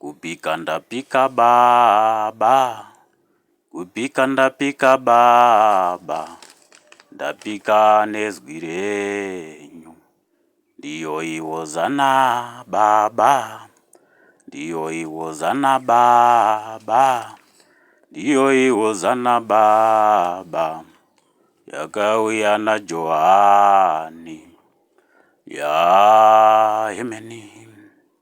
Kubika ndabika baba, kubika ndabika baba, ndabika nezwi renyu. Ndiyoyi hozana baba, ndiyoyi hozana baba, ndiyoyi hozana baba, yakauya naJohani, yaa hemeni.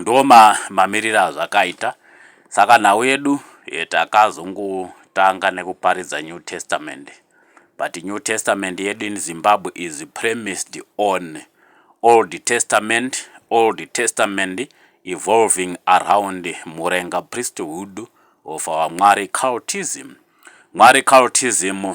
Ndoo mamirire azvakaita. Saka nhau yedu takazongotanga nekuparidza New Testament but New Testament yedu in Zimbabwe is premised on Old Testament, Old Testament evolving around Murenga priesthood of our Mwari cultism. Mwari cultism.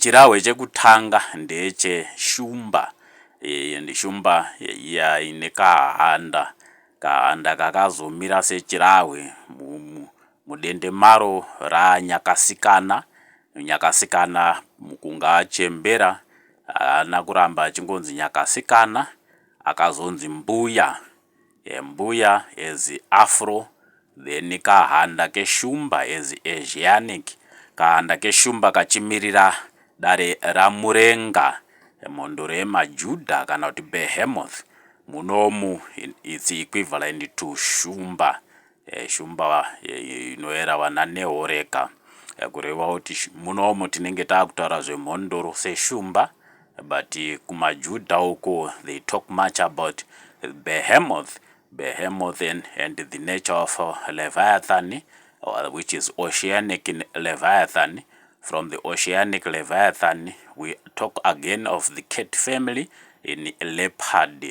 Chirahwe chekutanga ndeche shumba and shumba iya ine kahanda. Kahanda kakazomira sechirahwe mudende maro ranyakasikana. Nyakasikana mukunga achembera haana kuramba achingonzi nyakasikana akazonzi mbuya. Embuya as Afro then kahanda keshumba as Asianic, kahanda keshumba kachimirira dare raMurenga, mhondoro yemaJuda kana kuti Behemoth munomu its equivalent to shumba Eh, shumba eh, inoera wana nehoreka eh, kureva kuti munomo tinenge taakutaura zvemhondoro seshumba but kumajudha uko they talk much about behemoth behemoth and, and the nature of uh, leviathan or which is oceanic leviathan from the oceanic leviathan we talk again of the cat family in leopard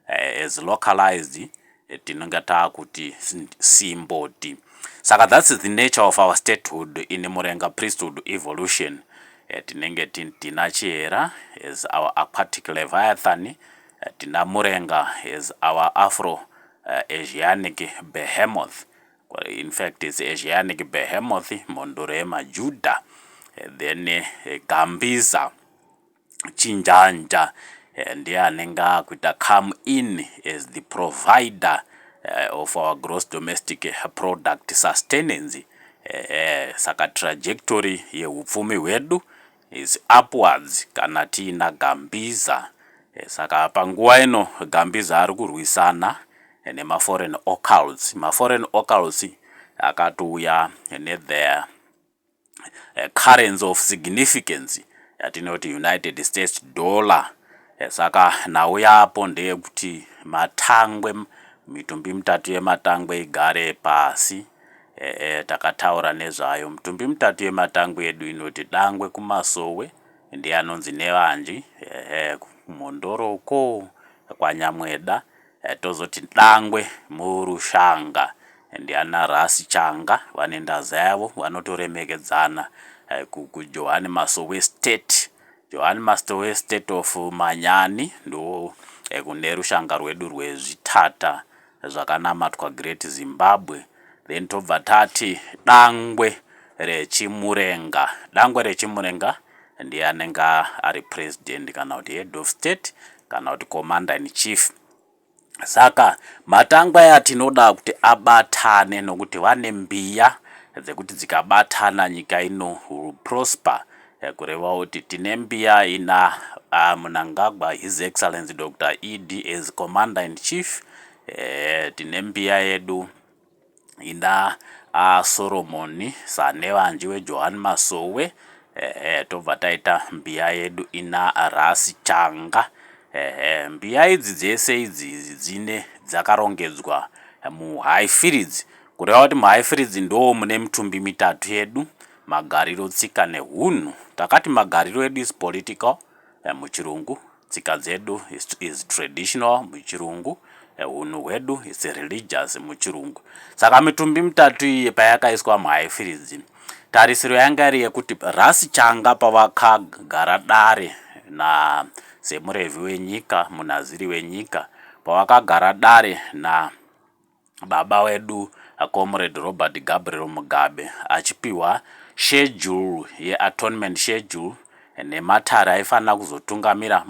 eh, as localized eh, tinonge taakuti simboti saka that's the nature of our statehood in murenga priesthood evolution eh, tinenge tina chihera as our aquatic leviathan eh, tina murenga as our afro eh, asianic behemoth in fact it's asianic behemoth mhondoro yemajuda eh, then eh, gambiza chinjanja ndiye anenge akuita come in as the provider of our gross domestic product sustenance ehe saka trajectory yehupfumi hwedu is upwards kana tiina Gambiza saka panguva ino Gambiza ari kurwisana nemaforeign occults, maforeign occults akatouya netheir currency of significance yatinoti United States dollar saka nhau yapo ndeyekuti matangwe mitumbi mitatu yematangwe igare pasi eh, takataura nezvayo mitumbi mitatu yematangwe yedu inoti dangwe kumasowe ndiye anonzi nevanji eh, kumhondoro uko kwanyamweda Tozoti dangwe murushanga ndiana Ras Changa vane ndaza yavo vanotoremekedzana kuJohan Masowe State. Johan Masowe State of Manyani ndoo kune rushanga rwedu rwezvitata zvakanamatwa Great Zimbabwe. Then tobva tati dangwe reChimurenga. Dangwe reChimurenga. ndiye anenge ari president kana kuti head of state kana kuti commander in chief saka matangwa aya tinoda kuti abatane nokuti vane mbiya dzekuti dzikabatana nyika ino will prosper eh, kureva kuti tine mbiya ina ah, munangagwa his excellency dr ed as commander in chief eh, tine mbiya yedu Inda a Solomon Sanevanji we Johan Masowe ehe tobva taita mbiya yedu ina Rasi Changa ehe mbiya idzi dzese idzi dzine dzakarongedzwa muHighfields kureva kuti muHighfields ndoo mune mitumbi mitatu yedu magariro tsika nehunhu takati magariro edu is political eh, muchirungu tsika dzedu is, is traditional muchirungu eh, hunhu hwedu is religious muchirungu saka mitumbi mitatu iyi payakaiswa muhaifiridzi tarisiro yanga iri yekuti rasi changa pavakagara dare na semurevhi wenyika munaziri wenyika pavakagara dare na baba wedu Comrade Robert Gabriel Mugabe achipihwa schedule yeatonement schedule nematare aifanira kuzotungamira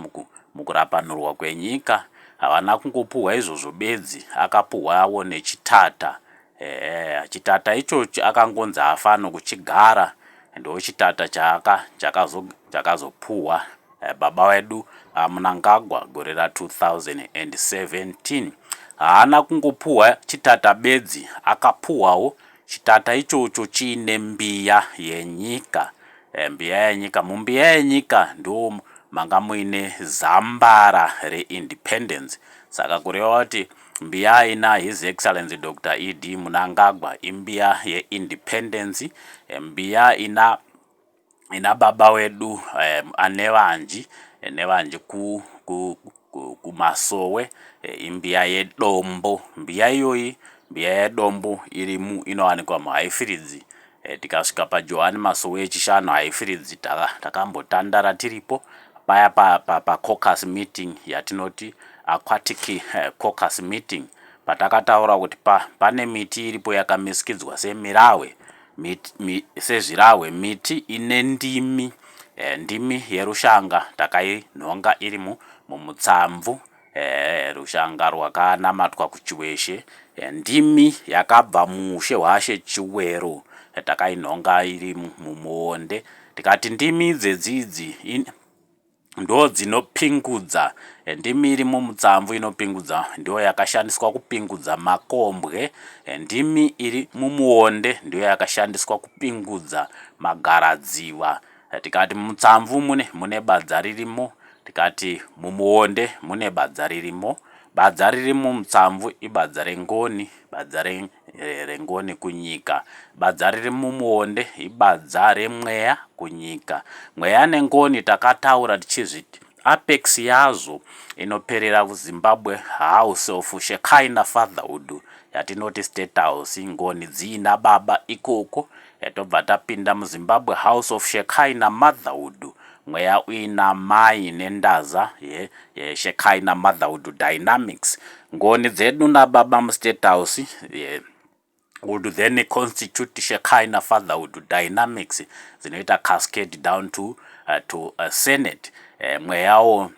mukurapanurwa kwenyika havana kungopuhwa izvozvo bedzi akapuhwawo nechitata ehe chitata ichochi akangonzi hafano kuchigara ndochitata chaka chakazopuhwa Baba wedu Mnangagwa gore ra 2017 haana kungopuhwa chitata bedzi akapuhwawo chitata ichocho chiine mbiya yenyika. Mbiya yenyika, mumbiya yenyika ndoo manga muine zambara re independence saka kureva kuti mbiya aina His Excellency Doctor ED Mnangagwa imbiya ye independence, mbiya ina Ina baba wedu anevanji nevanji ku ku ku kumasowe imbiya yedombo mbiya iyoyi mbiya yedombo irimu inowanikwa muhaifiridzi tikasvika pajohani masowe echishanu haifiridzi tava takambotandara tiripo paya pa pa pacocus meeting yatinoti aquatic cocus meeting patakataura kuti pa pane miti iripo yakamisikidzwa semirahwe Mit, mi, sezvirahwe miti ine ndimi e, ndimi yerushanga takainhonga iri mu, mumutsamvu e, rushanga rwakanamatwa kuchiweshe e, ndimi yakabva muushe hwaShe Chiwero e, takainhonga iri mumuonde tikati ndimi dzedzidzi in, ndodzinopingudza eh, ndimi iri mumutsamvu inopingudza ndiyo yakashandiswa kupingudza makombwe eh, ndimi iri mumuonde ndiyo yakashandiswa kupingudza magaradziva eh, tikati mumutsamvu mune mune badza ririmo tikati mumuonde mune badza ririmo badza riri mumutsamvu ibadza rengoni Badza re, re, rengoni kunyika. Badza riri mumuonde ibadza remweya kunyika. Mweya nengoni takataura tichizviti apex yazvo inoperera kuZimbabwe house of Shekinah fatherhood yatinoti State House. Ngoni dziina baba ikoko Tobva tapinda muZimbabwe House of Shekai naMotherhood mweya uina mai nendaza ye, ye Shekai naMotherhood Dynamics ngoni dzedu nababa muState House ye, would then constitute Shekai naFatherhood Dynamics dzinoita cascade down to, uh, to uh, Senate eh, mweyawo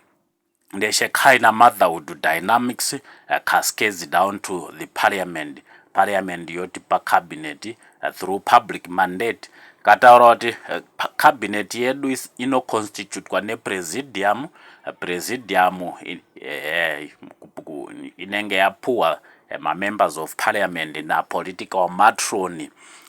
ndechechina motherhood dynamics cascades down to the parliament parliament yoti pacabinet through public mandate kataura kuti eh, cabinet yedu inoconstitutwa nepresidium presidium eh, eh, inenge yapuwa Eh, mamembers of parliament napolitical matron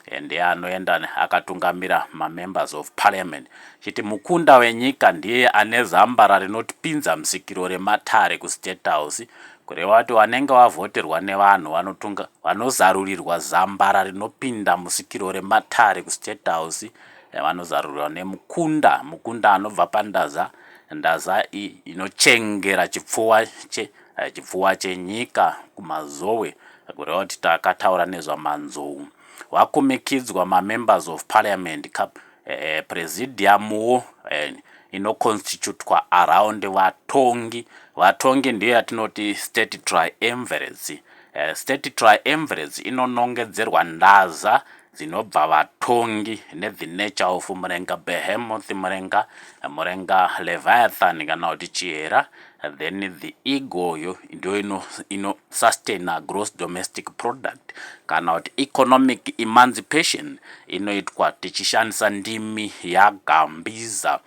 eh, ndiye anoenda akatungamira mamembers of parliament chiti mukunda wenyika ndiye ane zambara rinotipinza musikiro rematare kustate house kureva kuti vanenge vavhoterwa nevanhu vanotunga vanozarurirwa zambara rinopinda musikiro rematare kustate house eh, vanozarurirwa nemukunda mukunda anobva pandaza ndaza inochengera chipfuwa che Eh, chipfuwa chenyika kumazowe kureva kuti takataura nezvamanzou wakumikidzwa mamembers of parliament ka eh, presidiumwo eh, inoconstitutwa around vatongi vatongi ndiyo yatinoti state triumvirate eh, state triumvirate inonongedzerwa ndaza dzinobva vatongi nevinecha of murenga behemoth murenga murenga leviathan kana kuti chihera then the egoyo ndiyo ino, ino sustain a gross domestic product kana kuti economic emancipation inoitwa tichishandisa ndimi yagambiza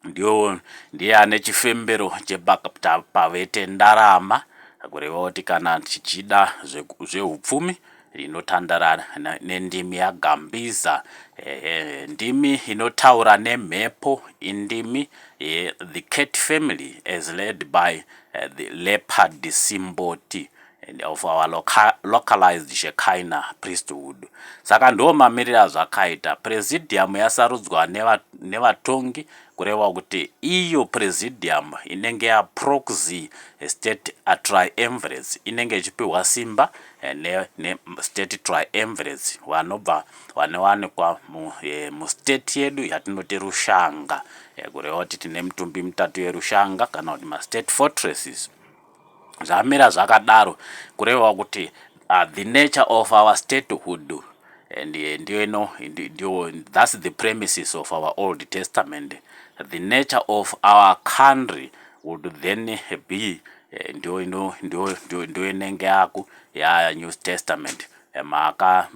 Ndiwo ndiye ane chifembero chebakta pavete ndarama, kureva kuti kana tichida zveku- zveupfumi rinotandara na- nendimi yagambiza ehe ndimi inotaura nemhepo indimi ye the cat family as led by eh, the leopard simboti and of our loca localized Shekinah priesthood. Saka ndiwo mamirire azvakaita. Presidium yasarudzwa neva, nevatongi kureva kuti iyo presidium inenge ya proxy state a triumvirates inenge ichipiwa simba eh, ne, ne state triumvirates vanobva vanowanikwa mu, e, mu state yedu yatinoti rushanga e, kureva kuti tine mitumbi mitatu yerushanga kana kuti ma state fortresses Zvamira zvakadaro kureva kuti uh, the nature of our statehood and eh, ndiyo ino ndiyo that's the premises of our old testament the nature of our country would then be eh, ndiyo ino ndiyo inenge yaku ya new testament eh, maka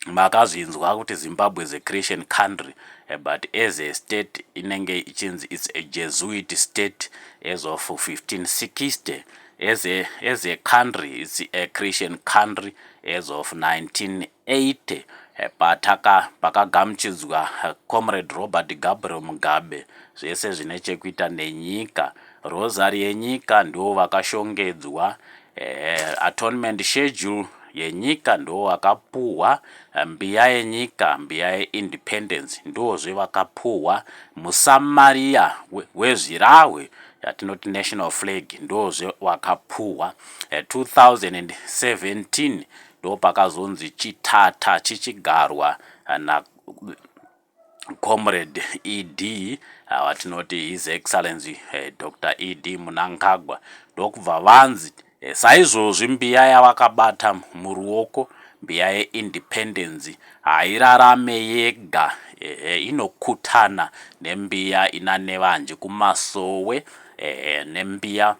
makazvinzwa kuti Zimbabwe is a Christian country eh, but as a state inenge ichinzi it's a Jesuit state as of 1560 as a, as a country it's a Christian country as of 1980 eh, pataka pakagamuchidzwa eh, comrade Robert Gabriel Mugabe zvese zvine chekuita nenyika rosary yenyika ndiwo vakashongedzwa Ehe, atonement schedule yenyika ndo wakapuhwa mbiya yenyika mbiya yeindependence ndozve vakapuhwa musamaria wezvirahwe yatinoti national flag ndozve wakapuhwa 2017 ndopakazonzi chitata chichigarwa na Comrade ED ava tinoti His Excellency eh, Dr ED Munangagwa ndokubva vanzi eh, saizvozvi mbiya yavakabata muruoko mbiya yeindependence hairarame yega ehe inokutana nembiya ina Nevanji kumasowe ehe nembiya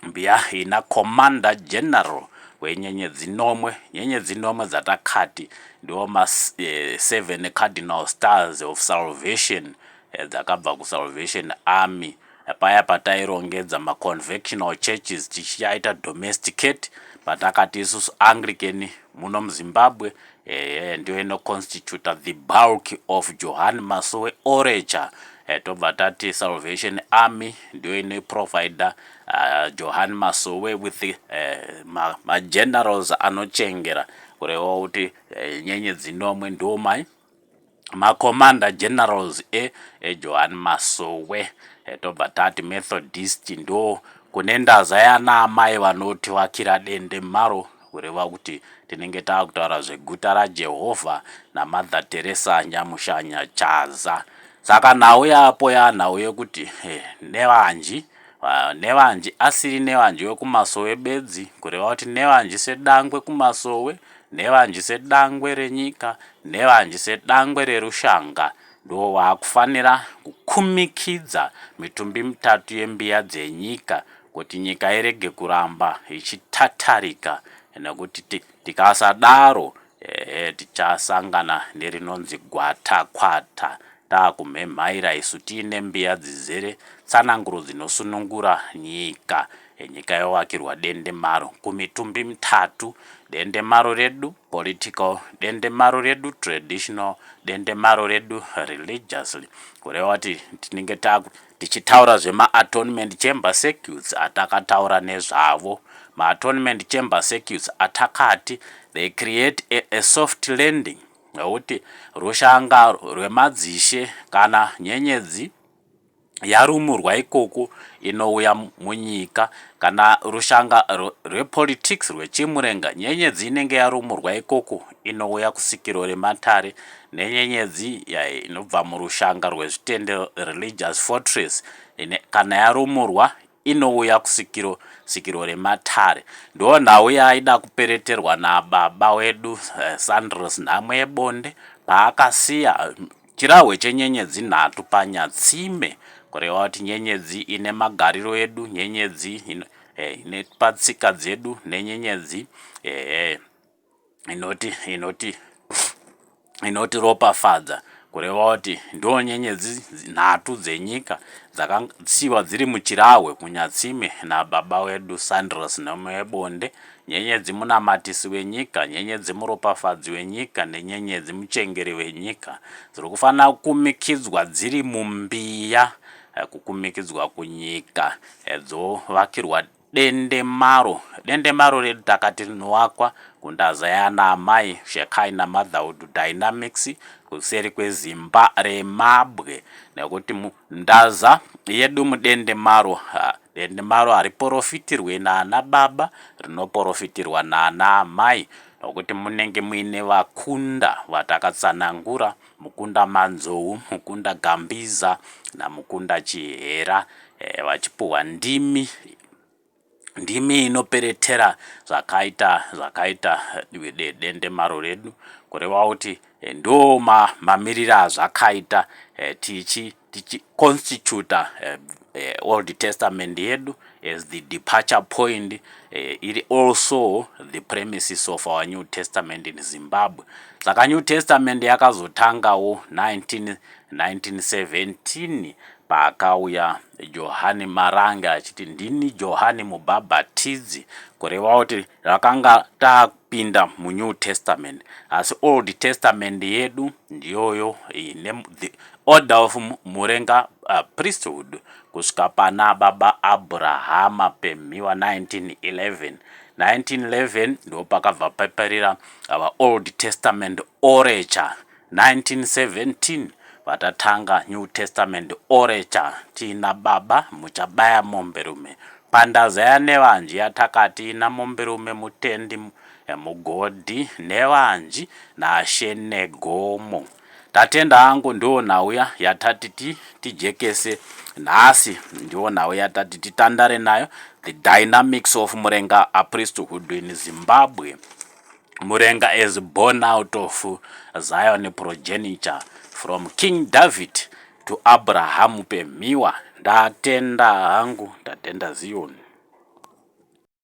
Mbiyahi naCommander General wenyenyedzi nomwe. Nyenyedzi nomwe dzatakati ndiwo ma eh, seven cardinal stars of salvation eh, dzakabva kusalvation army eh, paya patairongedza maconvectional churches tichiaita domesticate patakati isusu anglican muno muzimbabwe ehe ndiyo inoconstituta the bulk of johan masowe orecha eh, tobva tati salvation army ndiyo inoiprovider uh, johan masowe with uh, eh, magenerals ma anochengera kurewa kuti uh, nyenye dzinomwe ndiwo mai maCommander Generals e eJohan Masowe tobva tati Methodist ndo kune ndaza yana amai vanoti vakira dende maro kureva kuti tinenge takutaura zveguta raJehovha naMother Teresa Nyamushanya Chaza saka nhau yapo yanhau yekuti eh, nevanji Nevanji asiri Nevanji wekumasowe bedzi, kureva kuti Nevanji sedangwe kumasowe, Nevanji sedangwe renyika, Nevanji sedangwe rerushanga, ndiwo waakufanira kukumikidza mitumbi mitatu yembiya dzenyika kuti nyika irege kuramba ichitatarika nekuti tikasadaro Ehe tichasangana nerinonzi gwatakwata takumhemhaira isu tiine mbiya dzizere tsananguro dzinosunungura nyika. Nyika yovakirwa dendemaro kumitumbi mitatu, dendemaro redu, political, dendemaro redu, traditional, dendemaro redu, religiously, kureva kuti tinenge takuti Tichitaura zvemaatonement chamber circuits atakataura nezvavo, maatonement chamber circuits atakati they create a, a soft landing nokuti rushanga rwemadzishe kana nyenyedzi yarumurwa ikoko inouya munyika kana rushanga rwepolitics rwechimurenga nyenyedzi inenge yarumurwa ikoko inouya kusikirwo rematare nenyenyedzi yayo inobva murushanga rwezvitende, religious fortress, ine, kana yarumurwa inouya kusikiro sikirwo rematare. Ndiwo nhau yaaida kupereterwa nababa wedu eh, Sandros nhamo yebonde paakasiya chirahwe chenyenyedzi nhatu panyatsime kureva kuti nyenyedzi ine magariro edu nyenyedzi ine, eh, ine patsika dzedu nenyenyedzi ehe eh, inoti inoti inoti ropafadza kureva kuti ndiwo nyenyedzi nhatu dzenyika dzakasiiwa dziri muchirahwe kunyatsime nababa wedu Sandros nhamo yebonde nyenyedzi munamatisi wenyika nyenyedzi muropafadzi wenyika nenyenyedzi muchengeri wenyika dziri kufanira kukumikidzwa dziri mumbiya eh, kukumikidzwa kunyika eh, dzovakirwa Dendemaro Dendemaro redakati rinowakwa kundaza yaana amai Shekhaina Motherhood Dynamics kuseri kwezimba remabwe nekuti ndaza yedu mudendemaro ha, dendemaro hariporofitirwe naana baba rinoporofitirwa naana amai nokuti munenge muine vakunda vatakatsanangura Mukunda Manzou, Mukunda Gambiza naMukunda Chihera eh, vachipuhwa ndimi ndimi inoperetera zvakaita zvakaita eh, dendemaro redu kurevawo kuti eh, ndo mamirira azvakaita eh, tichi tichiconstituta eh, eh, old testament yedu as the departure point eh, iri also the premises of our new testament in zimbabwe saka new testament yakazotangawo 19, 1917 paakauya johani marange achiti ndini johani mubhabhatidzi kurevawo kuti rakanga pinda munew testament asi old testament yedu ndiyoyo ine the order of murenga uh, priesthood kusvika pana baba abrahama pemhiwa 1911 1911 ndo pakabva paparira our old testament orature 1917 vatatanga new testament orecha tina baba muchabaya mombe rume pandazaya nevanji yatakati namombe rume mutendi mugodhi nevanji nashe negomo tatenda hangu ndiwo nhau ya yatati ti tijekese nhasi ndiwo nhau yatati titandare nayo the dynamics of murenga a priesthood in zimbabwe Murenga is born out of Zion progeniture from King David to Abraham Pemhiwa. Ndatenda hangu, ndatenda Zion.